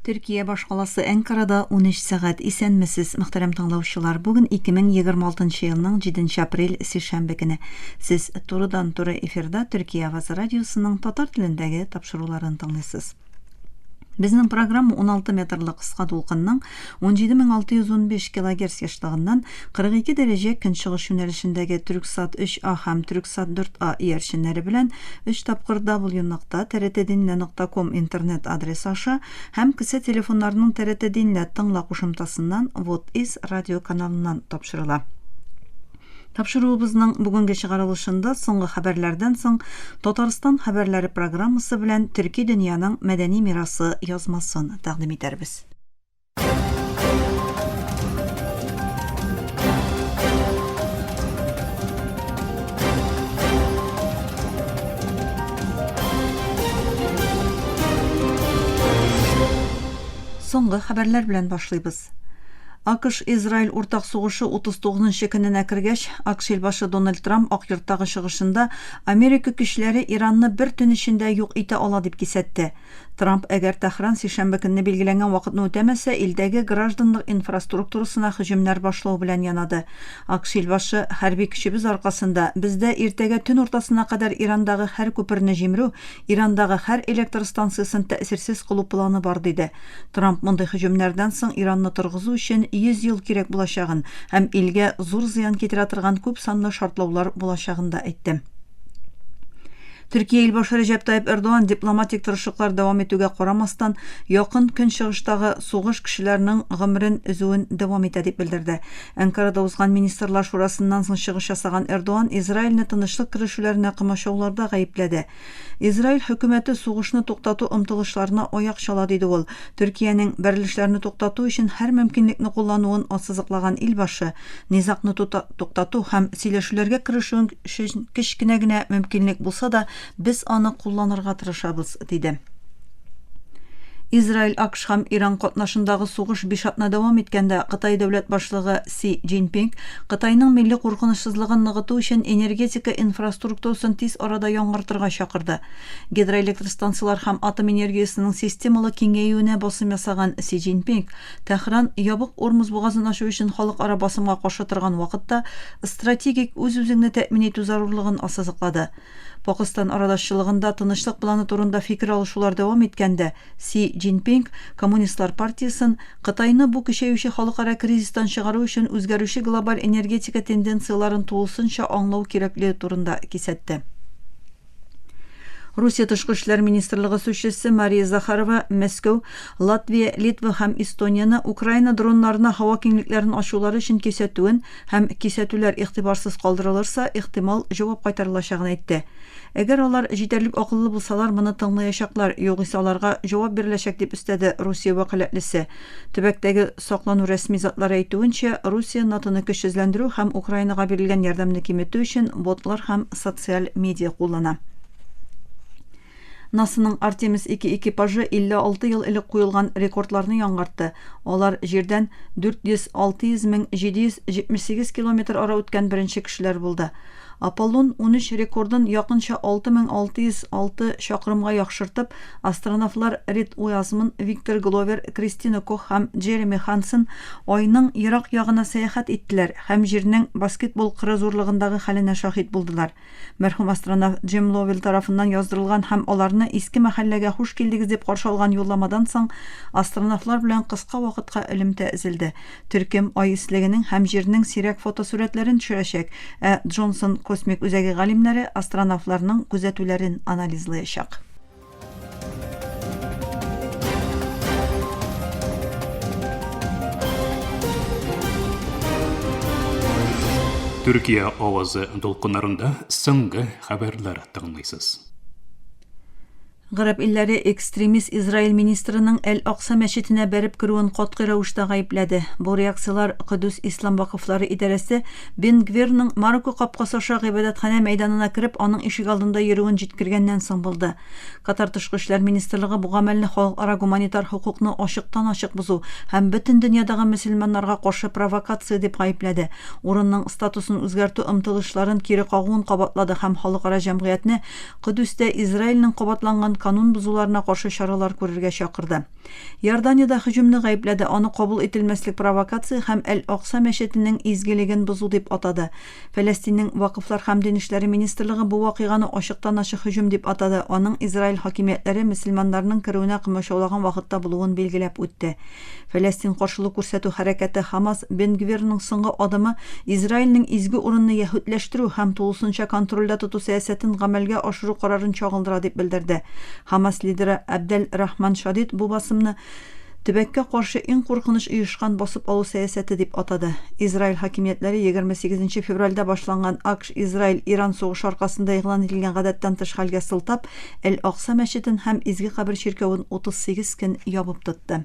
Төркия башкаласы Әнкарада 13 сәгать. Исәнмесез, мөхтәрәм тыңлаучылар. Бүген 2026 елның 7 апрель сишәмбе көне. Сез турыдан-туры эфирда Төркия авазы радиосының татар телендәге тапшыруларын тыңлыйсыз. Безнең программа 16 метрлы кыска дулкынның 17615 килогерц ешлыгыннан 42 дәрәҗә көнчыгыш юнәлешендәге Төрексат 3А һәм Төрексат 4А иярченнәре белән өч тапкыр W-нокта trt-dinle нокта ком интернет адресы аша һәм кесә телефоннарының trt-dinle тыңла кушымтасыннан What is радио каналыннан тапшырыла. Тапшыруыбызның бүгенге чыгарылышында соңгы хәбәрләрдән соң Татарстан хәбәрләре программасы белән төрки дөньяның мәдәни мирасы язмасын тәкъдим итәрбез. Соңгы хәбәрләр белән башлыйбыз. АКШ-Израиль уртак сугышы 39-нчы көненә кергәч, АКШ илбашы Дональд Трамп Ак йорттагы чыгышында Америка көчләре Иранны бер төн эчендә юк итә ала дип кисәтте. Трамп, әгәр Тәһран сишәмбе көнне билгеләнгән вакытны үтәмәсә, илдәге гражданлык инфраструктурасына һөҗүмнәр башлау белән янады. АКШ илбашы, Хәрби көчебез аркасында, бездә иртәгә төн уртасына кадәр Ирандагы һәр күперне җимерү, Ирандагы һәр электр станциясен тәэсирсез кылу планы бар, диде. Трамп мондый һөҗүмнәрдән соң Иранны торгызу өчен 100 ел кирәк булачагын һәм илгә зур зыян китерә торган күпсанлы шартлаулар булачагын да әйтте. Төркия илбашы Рәҗәп Тайып Эрдоган дипломатик тырышлыклар дәвам итүгә карамастан, Якын Көнчыгыштагы сугыш кешеләренең гомерен өзүен дәвам итә дип белдерде. Әнкарада узган Министрлар шурасыннан соң чыгыш ясаган Эрдоган Израильне тынычлык керешүләренә комачауларда гаепләде. Израиль хөкүмәте сугышны туктату омтылышларына аяк чала, диде ул. Төркиянең бәрелешләрне туктату өчен һәр мөмкинлекне куллануын ассызыклаган илбашы, низагны тута туктату һәм сөйләшүләргә керешүен өчен кечкенә генә мөмкинлек булса да, без аны кулланырга тырышабыз, диде. Израиль, АКШ һәм Иран катнашындагы сугыш биш атна дәвам иткәндә, Кытай дәүләт башлыгы Си Цзиньпин Кытайның милли куркынычсызлыгын ныгыту өчен энергетика инфраструктурасын тиз арада яңартырга чакырды. Гидроэлектростанцияләр һәм атом энергиясенең системалы киңәюенә басым ясаган Си Цзиньпин, Тәһран Ябык Урмуз бугазын ачу өчен халыкара басымга каршы торган вакытта стратегик үз-үзеңне тәэмин итү зарурлыгын ассызыклады. Пакыстан арадашчылыгында тынычлык планы турында фикер алышулар дәвам иткәндә, Си Цзиньпин Коммунистлар партиясен Кытайны бу көчәюче халыкара кризистан чыгару өчен үзгәрүче глобаль энергетика тенденцияләрен тулысынча аңлау кирәклеге турында кисәтте. Русия тышкы эшләр министрлыгы сүзчесе Мария Захарова Мәскәү, Латвия, Литва һәм Эстонияне Украина дроннарына һава киңлекләрен ачулары өчен кисәтүен һәм кисәтүләр игътибарсыз калдырылырса, ихтимал җавап кайтарылачагын әйтте. Әгәр алар җитәрлек акыллы булсалар, моны тыңлаячаклар, югыйсә аларга җавап биреләчәк, дип өстәде Русия вәкаләтлесе. Төбәктәге Саклану рәсми затлары әйтүенчә, Русия НАТОны көчсезләндерү һәм Украинага бирелгән ярдәмне киметү өчен ботлар һәм социаль медиа куллана. НАСАның Артемис 2 экипажы 56 ел элек куелган рекордларны яңгартты. Алар Җирдән 400-600 мең 778 километр ара үткән беренче кешеләр булды. Аполлон 13 рекордын якынча 6606 чакрымга яхшыртып, астронавтлар Рид Уязмн, Виктор Гловер, Кристина Кох һәм Джереми Хансен Айның ерак ягына сәяхәт иттеләр һәм Җирнең баскетбол кыры зурлыгындагы хәленә шаһит булдылар. Мәрхүм астронавт Джим Ловелл тарафыннан яздырылган һәм аларны Иске мәхәлләгә хуш килдегез дип каршы алган юлламадан соң астронавтлар белән кыска вакытка элемтә өзелде. Төркем Ай өслегенең һәм Җирнең сирәк фотосурәтләрен төшерәчәк, ә Джонсон космик үзәге галимнәре астронавтларның күзәтүләрен анализлаячак. Төркия авазы дулкыннарында соңгы хәбәрләр тыңлыйсыз. Гарәп илләре экстремист Израиль министрының Әл-Акса мәчетенә бәреп керүен катгый рәвештә гаепләде. Бу реакцияләр Кодүс ислам вакыфлары идарәсе Бен Гвирның Марокко капкасы аша гыйбадәтханә мәйданына кереп, аның ишек алдында йөрүен җиткергәннән соң булды. Катар тышкы эшләр министрлыгы бу гамәлне халыкара гуманитар хокукны ачыктан-ачык бозу һәм бөтен дөньядагы мөселманнарга каршы провокация дип гаепләде, урынның статусын үзгәртү омтылышларын кире кагуын кабатлады һәм халыкара җәмгыятьне Кодүстә Израильнең кабатланган канун бозуларына каршы чаралар күрергә чакырды. Иордания дә һөҗүмне гаепләде, аны кабул ителмәслек провокация һәм Әл-Акса мәчетенең изгелеген бозу дип атады. Фәләстиннең Вакыфлар һәм дин эшләре министрлыгы бу вакыйганы ачыктан-ачык һөҗүм дип атады, аның Израиль хакимиятләре мөселманнарның керүенә комачаулаган вакытта булуын билгеләп үтте. Фәләстин каршылык күрсәтү хәрәкәте Хамас Бен Гвирның соңгы адымы Израильнең изге урынны яһүдләштерү һәм тулысынча контрольдә тоту сәясәтен гамәлгә ашыру карарын чагылдыра дип белдерде. Хамас лидеры Абдел Рахман Шадид бу басымны Төбәккә каршы иң куркыныч оешкан басып алу сәясәте дип атады. Израиль хакимиятләре егерме сигезенче февральдә башланган АКШ-Израиль-Иран сугышы аркасында игълан ителгән гадәттән тыш хәлгә сылтап, Әл-Акса мәчетен һәм Изге кабер чиркәвен 38 көн ябып тотты.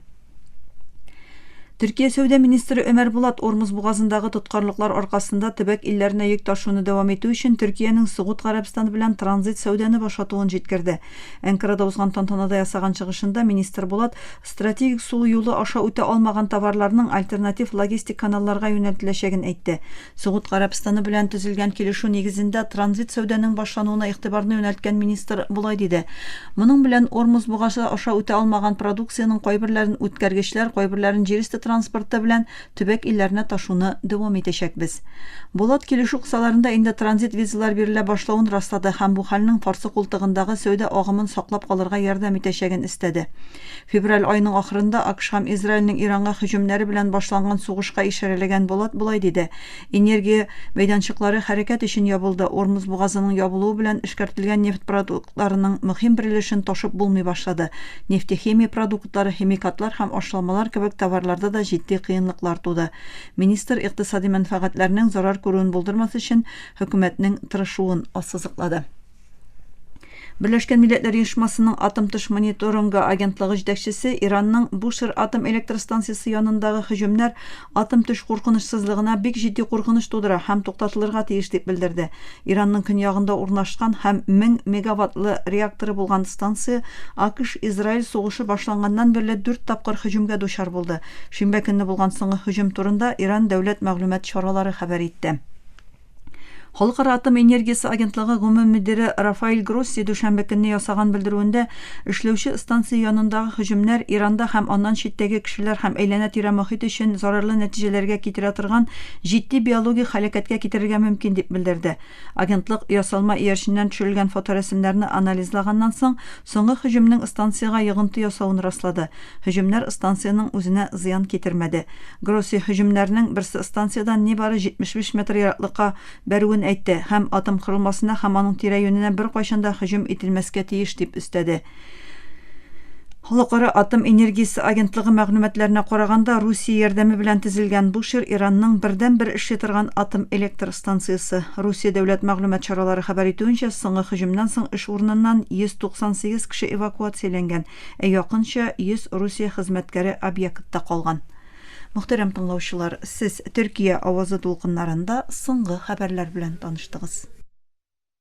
Төркия сәүдә министры Өмәр Булат Ормуз бугазындагы тоткарлыклар аркасында төбәк илләренә йөк ташуны дәвам итү өчен Төркиянең Согуд Гарәбстаны белән транзит сәүдәне башатуын җиткерде. Әнкарада узган тантанада ясаган чыгышында министр Булат стратегик су юлы аша үтә алмаган товарларның альтернатив логистик каналларга юнәлтеләчәген әйтте. Согуд Гарәбстаны белән төзелгән килешү нигезендә транзит сәүдәнең башлануына игътибарны юнәлткән министр болай диде, Моның белән Ормуз бугазы аша үтә алмаган продукциянең кайберләрен үткәргечләр, кайберләрен җирөсте транспорты белән Төбәк илләренә ташуны дәвам итәчәкбез. Булат килешү кысаларында инде транзит визалар бирелә башлавын раслады һәм бу хәлнең карсы култыгындагы сәүдә агымын саклап калырга ярдәм итәчәген эстәде. Февраль аеның ахырында АКШ һәм Израильнең Иранга һөҗүмнәре белән башланган сугышка ишарәләгән Булат болай диде, Энергия мәйданчыклары хәрәкәт өчен ябылды, Ормуз бугазының ябылуы белән эшкәртелгән нефть продуктларының мөһим бер өлешен ташып булмый башлады, нефтехимия продуктлары, химикатлар һәм ашламалар кебек товарларда да җитди кыенлыклар туды. Министр икътисади мәнфәгатьләрнең зарар күрүен булдырмас өчен хөкүмәтнең тырышуын ассызыклады. Берләшкән Милләтләр Оешмасының атом тыш мониторингы агентлыгы җитәкчесе Иранның Бушер атом электростанциясе янындагы һөҗүмнәр атом төш куркынычсызлыгына бик җитди куркыныч тудыра һәм туктатылырга тиеш дип белдерде. Иранның көньягында урнашкан һәм 1000 мегаваттлы реакторы булган станция АКШ-Израиль сугышы башланганнан бирле дүрт тапкыр һөҗүмгә дучар булды. Шимбә көнне булган соңгы һөҗүм турында Иран дәүләт мәгълүмат чаралары хәбәр итте. Халыкара атом энергиясе агентлыгы гомум мөдире Рафаэль Гросси дүшәмбе көнне ясаган белдерүендә, эшләүче станция янындагы һөҗүмнәр Иранда һәм аннан читтәге кешеләр һәм әйләнә-тирә мохит өчен зарарлы нәтиҗәләргә китерә торган җитди биологик һәлакәткә китерергә мөмкин, дип белдерде. Агентлык ясалма иярченнән төшерелгән фоторәсемнәрне анализлаганнан соң, Соңгы һөҗүмнең станциягә йогынты ясавын раслады. Һөҗүмнәр станциянең үзенә зыян китермәде. Гросси һөҗүмнәрнең берсе станциядән нибары 75 метр ераклыкка бәрүен әйтте һәм атом корылмасына һәм аның тирә-юненә беркайчан да һөҗүм ителмәскә тиеш дип өстәде. Халыкара атом энергиясе агентлыгы мәгълүматларына караганда, Русия ярдәме белән төзелгән бу чир Иранның бердәнбер эшли торган атом электр Станциясе. Русия дәүләт мәгълүмат чаралары хәбәр итүенчә, соңгы һөҗүмнән соң эш урыныннан 198 кеше эвакуацияләнгән, ә якынча 100 Русия хезмәткәре объектта калган. Мөхтәрәм тыңлаучылар, сез Төркия авазы дулкыннарында соңгы хәбәрләр белән таныштыгыз.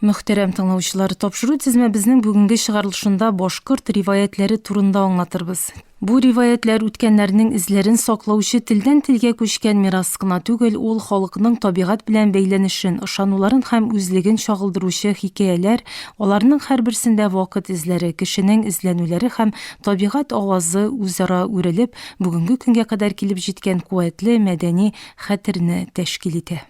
Мөхтәрәм тыңлаучылар, тапшыру тезмәбезнең бүгенге чыгарылышында башкорт риваятьләре турында аңлатырбыз. Бу риваятьләр үткәннәрнең эзләрен саклаучы телдән-телгә күчкән мирас кына түгел, ул халыкның табигать белән бәйләнешен, ышануларын һәм үзлеген чагылдыручы хикәяләр, аларның һәрберсендә вакыт эзләре, кешенең эзләнүләре һәм табигать авазы үзара үрелеп, бүгенге көнгә кадәр килеп җиткән куәтле мәдәни хәтерне тәшкил итә.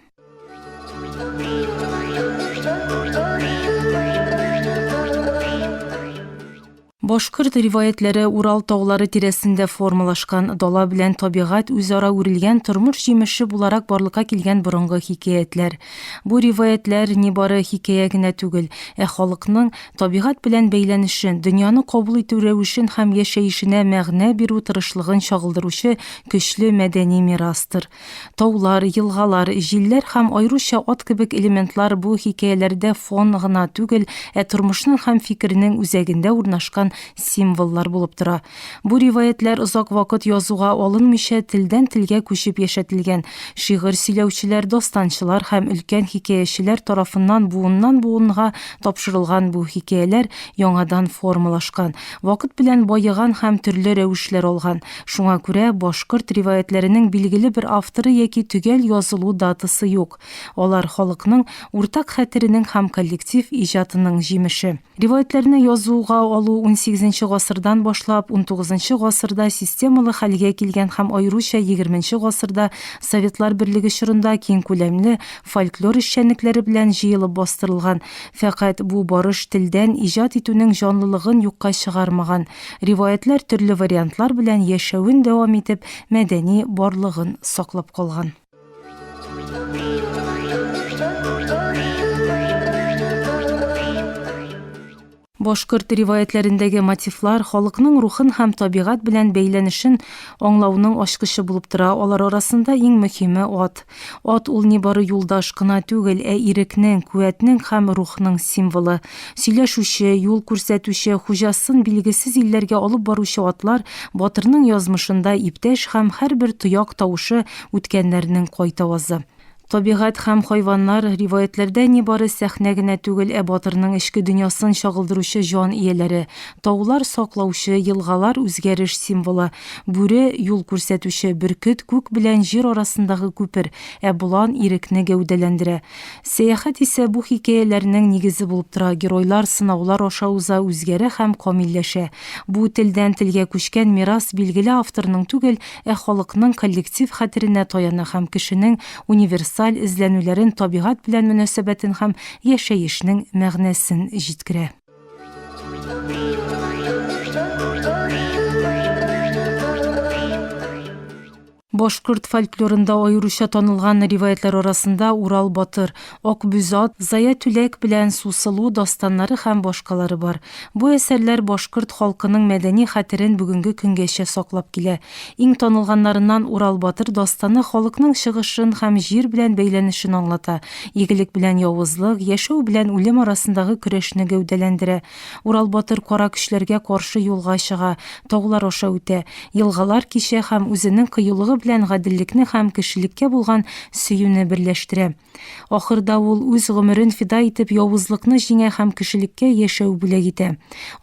Башкорт риваятьләре Урал таулары тирәсендә формалашкан, дала белән табигать үзара үрелгән тормыш җимеше буларак барлыкка килгән борынгы хикәятләр. Бу риваятьләр не бары хикәя генә түгел, ә халыкның табигать белән бәйләнешен, дөньяны кабул итү рәвешен һәм яшәешенә мәгънә бирү тырышлыгын чагылдыручы көчле мәдәни мирастыр. Таулар, елгалар, җилләр һәм аеруча ат кебек элементлар бу хикәяләрдә фон гына түгел, ә тормышның һәм фикернең үзәгендә урнашкан символлар булып тора. Бу риваятьләр озак вакыт язуга алынмыйча телдән-телгә күчеп яшәтелгән, шигырь сөйләүчеләр, дастанчылар һәм өлкән хикәячеләр тарафыннан буыннан-буынга тапшырылган бу хикәяләр яңадан формалашкан, вакыт белән баеган һәм төрле рәвешләр алган. Шуңа күрә башкорт риваятьләренең билгеле бер авторы яки төгәл язылу датасы юк. Алар, халыкның уртак хәтеренең һәм коллектив иҗатының җимеше. Риваятьләрне язуга алу унсигезенче гасырдан башлап, унтугызынчы гасырда системалы хәлгә килгән һәм аеруча егерменче гасырда Советлар Берлеге чорында киңкүләмле фольклор эшчәнлекләре белән җыелып бастырылган. Фәкать бу барыш телдән иҗат итүнең җанлылыгын юкка чыгармаган. Риваятьләр төрле вариантлар белән яшәвен дәвам итеп, мәдәни барлыгын саклап калган. Башкорт риваятьләрендәге мотивлар халыкның рухын һәм табигать белән бәйләнешен аңлауның ачкычы булып тора. Алар арасында иң мөһиме ат. Ат ул нибары юлдаш кына түгел, ә ирекнең, куәтнең һәм рухның символы. Сөйләшүче, юл күрсәтүче, хуҗасын билгесез илләргә алып баручы атлар батырның язмышында иптәш һәм һәрбер тояк тавышы үткәннәрнең кайтавазы. Табигать һәм хайваннар, риваятьләрдә нибары сәхнә генә түгел, ә батырның эчке дөньясын чагылдыручы җан ияләре. Таулар, саклаучы, елгалар, үзгәреш символы, бүре, юл күрсәтүче, бөркет, күк белән җир арасындагы күпер, ә болан, ирекне гәүдәләндерә. Сәяхәт исә бу хикәяләрнең нигезе булып тора, геройлар сынаулар аша уза, үзгәрә һәм камилләшә. Бу телдән телгә күчкән мирас билгеле авторның түгел, ә халыкның коллектив хәтеренә таяна һәм кешенең универсаль эзләнүләрен, табигать белән мөнәсәбәтен һәм яшәешнең мәгънәсен җиткерә. Башкорт фольклорында аеруча танылган риваятлар арасында Урал батыр, Акбүзат, Зая түләк белән Сусылу дастаннары һәм башкалары бар. Бу әсәрләр башкорт халкының мәдәни хәтерен бүгенге көнгәчә саклап килә. Иң танылганнарыннан Урал батыр дастаны халыкның чыгышын һәм җир белән бәйләнешен аңлата, игелек белән явызлык, яшәү белән үлем арасындагы көрәшне гәүдәләндерә. Урал батыр кара көчләргә каршы юлга чыга, таулар аша үтә, елгалар кичә һәм үзенең кыюлыгы белән гаделлекне һәм кешелеккә булган сөюне берләштерә. Ахырда ул үз гомерен фида итеп явызлыкны җиңә һәм кешелеккә яшәү бүләк итә.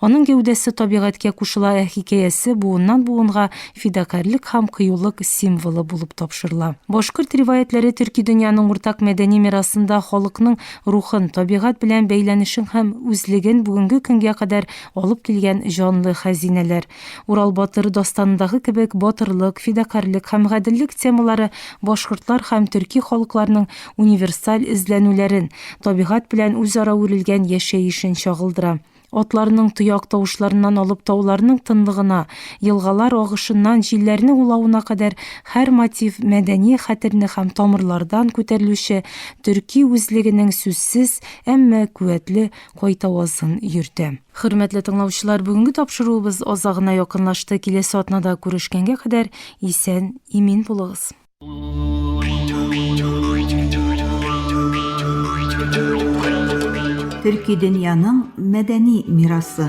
Аның гәүдәсе табигатькә кушыла, ә хикәясе буыннан-буынга фидакарьлек һәм кыюлык символы булып тапшырыла. Башкорт риваятьләре төрки дөньяның уртак мәдәни мирасында халыкның рухын, табигать белән бәйләнешен һәм үзлеген бүгенге көнгә кадәр алып килгән җанлы хәзинәләр, Урал батыр дастанындагы кебек батырлык, фидакарьлек һәм гаделлек темалары башкортлар һәм төрки халыкларның универсаль эзләнүләрен, табигать белән үзара үрелгән яшәешен чагылдыра. Атларның тояк тавышларыннан алып тауларның тынлыгына, елгалар агышыннан җилләрнең улавына кадәр һәр мотив мәдәни хәтерне һәм тамырлардан күтәрелүче төрки үзлегенең сүзсез, әмма куәтле кайтавазын йөртә. Хөрмәтле тыңлаучылар, бүгенге тапшыруыбыз азагына якынлашты. Киләсе атнада күрешкәнгә кадәр исән, имин булыгыз. Төрки дөньяның мәдәни мирасы.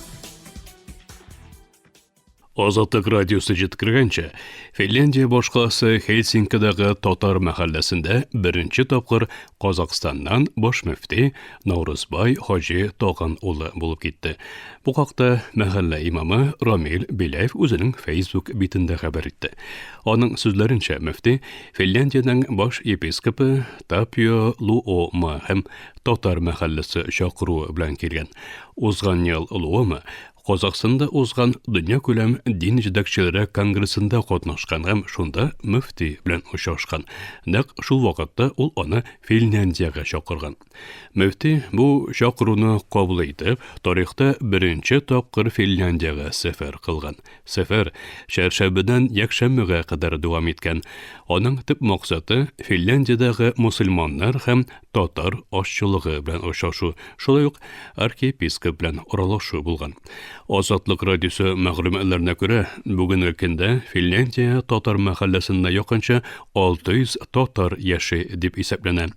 Азатлык радиосы җиткергәнчә, Финляндия башкаласы Хельсинкидагы татар мәхәлләсендә беренче тапкыр Казакъстаннан баш мөфти Наурызбай Хаҗи Тагын улы булып китте. Бу хакта мәхәллә имамы Рамил Беляев үзенең Facebook битендә хәбәр итте. Аның сүзләренчә, мөфти Финляндиянең баш епископы Тапио Луома һәм татар мәхәлләсе чакыруы белән килгән. Узган ел олуым Казахстанда узган дөньякүләм дин җитәкчеләре конгрессында катнашкан һәм шунда мөфти белән очрашкан. Нәкъ шул вакытта ул аны Финляндиягә чакырган. Мөфти бу чакыруны кабул итеп, тарихта беренче тапкыр Финляндиягә сәфәр кылган. Сәфәр чәршәмбедән якшәмбегә кадәр дәвам иткән. Аның төп максаты, Финляндиядәге мөселманнар һәм татар ашчылыгы белән очрашу, шулай ук архиепископ белән аралашу булган. Азатлык радиосы мәгълүматларына күрә, бүгенге көндә Финляндия татар мәхәлләсендә якынча 600 татар яши дип исәпләнә.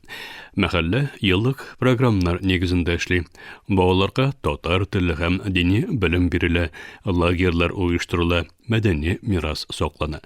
Мәхәллә еллык программнар нигезендә эшли. Балаларга татар теле һәм дини белем бирелә, лагерьлар оештырыла. мәдәни мирас саклана.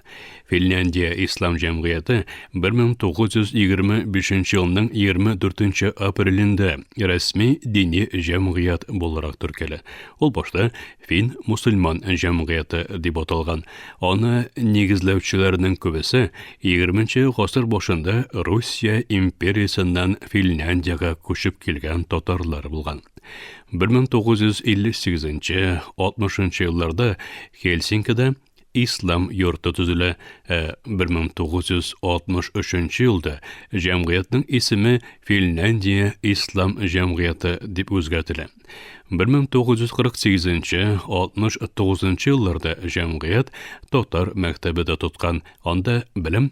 Финляндия ислам җәмгыяте 1925 елның 24 апрелендә рәсми дини җәмгыять буларак төркәлә. Ул башта фин мусульман җәмгыяте дип аталган. Аны нигезләүчеләрнең күбесе 20 гасыр башында Русия империясеннән Финляндиягә күчеп килгән татарлар булган. 1958-60 елларда Хельсинкида ислам йорты төзелә, ә 1963 елда җәмгыятьнең исеме Финляндия ислам җәмгыяте дип үзгәртелә. 1948-69 елларда җәмгыять татар мәктәбе дә тоткан, анда белем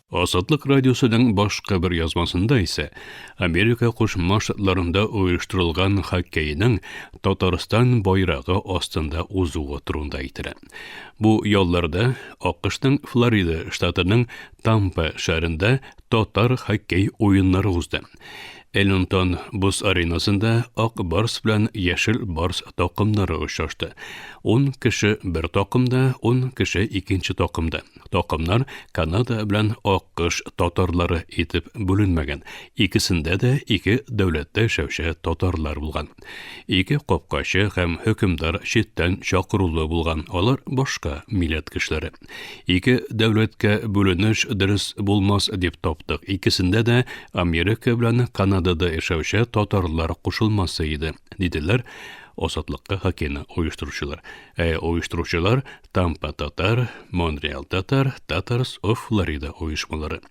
Азатлык радиосының башка бер язмасында исә Америка Кушма Штатларында оештырылган хоккейның Татарстан байрагы астында узуы турында әйтелә. Бу ялларда АКШның Флорида штатының Тампа шәһәрендә татар хоккей уеннары узды. Эллинтон боз аренасында Ак Барс белән Яшел Барс такымнары очрашты. 10 кеше бер такымда, 10 кеше икенче такымда. Токымнар Канада белән Аккыш татарлары итеп бүленмәгән. Икесендә дә ике дәүләттә яшәүче татарлар булган. Ике капкачы һәм хөкемдар читтән чакырулы булган. Алар башка милләт кешеләре. Ике дәүләткә бүленеш дөрес булмас дип таптык. Икесендә дә Америка белән Канадада яшәүче татарлар кушылмасы иде, диделәр Азатлыкка хакены оештыручылар. Ә оештыручылар Тампа Татар, Монреал Татар, Татарс оф Флорида оешмалары.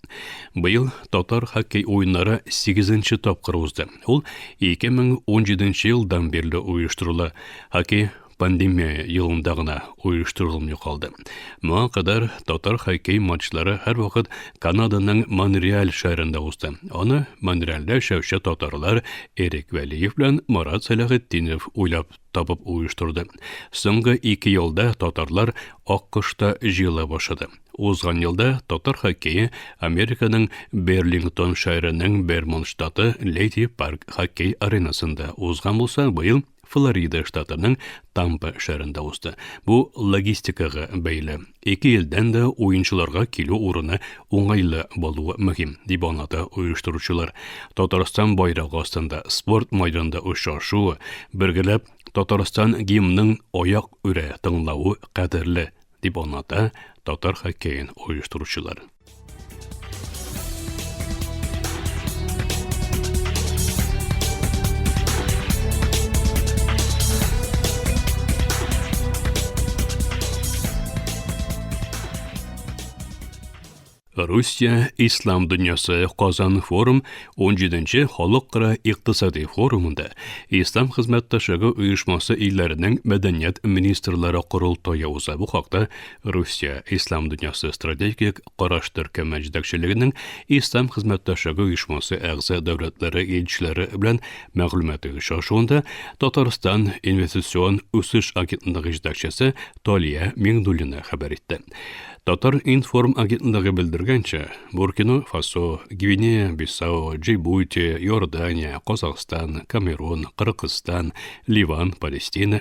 Быел татар хоккей уеннары 8-нче тапкыр узды. Ул 2017 елдан бирле оештырыла. Хоккей пандемия елында гына оештырылмый калды. Моңа кадәр татар хоккей матчлары һәрвакыт Канаданың Монреаль шәһәрендә узды. Аны Монреальдә яшәүче татарлар Эрик Вәлиев белән Марат Сәләхетдинов уйлап табып оештырды. Соңгы ике елда татарлар Аккошта җыела башлады. Узган елда татар хоккее Американың Берлингтон шәһәренең Бермонт штаты Леди Парк хоккей аренасында узган булса, быел Флорида штатының Тампа шәһәрендә узды. Бу логистикага бәйле. Ике елдан да уенчыларга килү урыны уңайлы булуы мөһим, дип аңлата оештыручылар. Татарстан байрагы астында спорт майданында очрашу, бергәләп Татарстан гимнның аяк үрә тыңлавы кадерле, дип аңлата татар хоккеен оештыручылар. Русия ислам дөньясы Казан форум 17-нче халыкара икътисади форумында Ислам хезмәттәшлеге оешмасы илләренең мәдәният министрлары корылтае уза. Бу хакта Русия, Ислам дөньясы стратегик караш төркеме җитәкчелегенең Ислам хезмәттәшлеге оешмасы әгъза дәүләтләре илчеләре белән мәгълүмати очрашуында Татарстан инвестицион үсеш агентлыгы җитәкчесе Талия Миңнуллина хәбәр итте. Татар информ агентлыгы белдергәнчә, Буркино Фасо, Гвинея, Бисау, Джибути, Иордания, Казахстан, Камерун, Кыргызстан, Ливан, Палестина,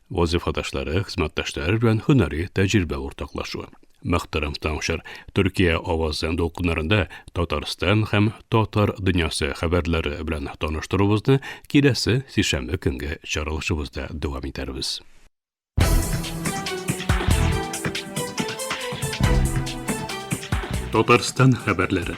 Вазифадашлары, хезмәттәшләре белән һөнәри тәҗрибә уртаклашу. Мөхтәрәм тыңчыр, Төркия авазы дулкыннарында Татарстан һәм татар дөньясы хәбәрләре белән таныштыруыбызны киләсе сишәмбе көнге чаралышыбызда дәвам итәрбез. Татарстан хәбәрләре.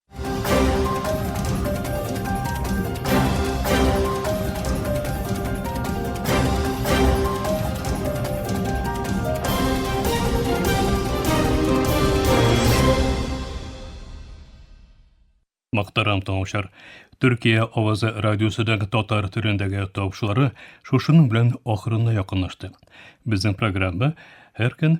Мактарам тыңлаучылар. Төркия авазы радиосыдагы татар төрендәге тавышлары шушының белән ахырына якынлашты. Безнең программа һәр көн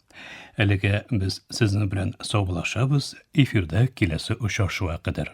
Әлегә без сезнең белән саубулашабыз, эфирда киләсе очрашуга кадәр.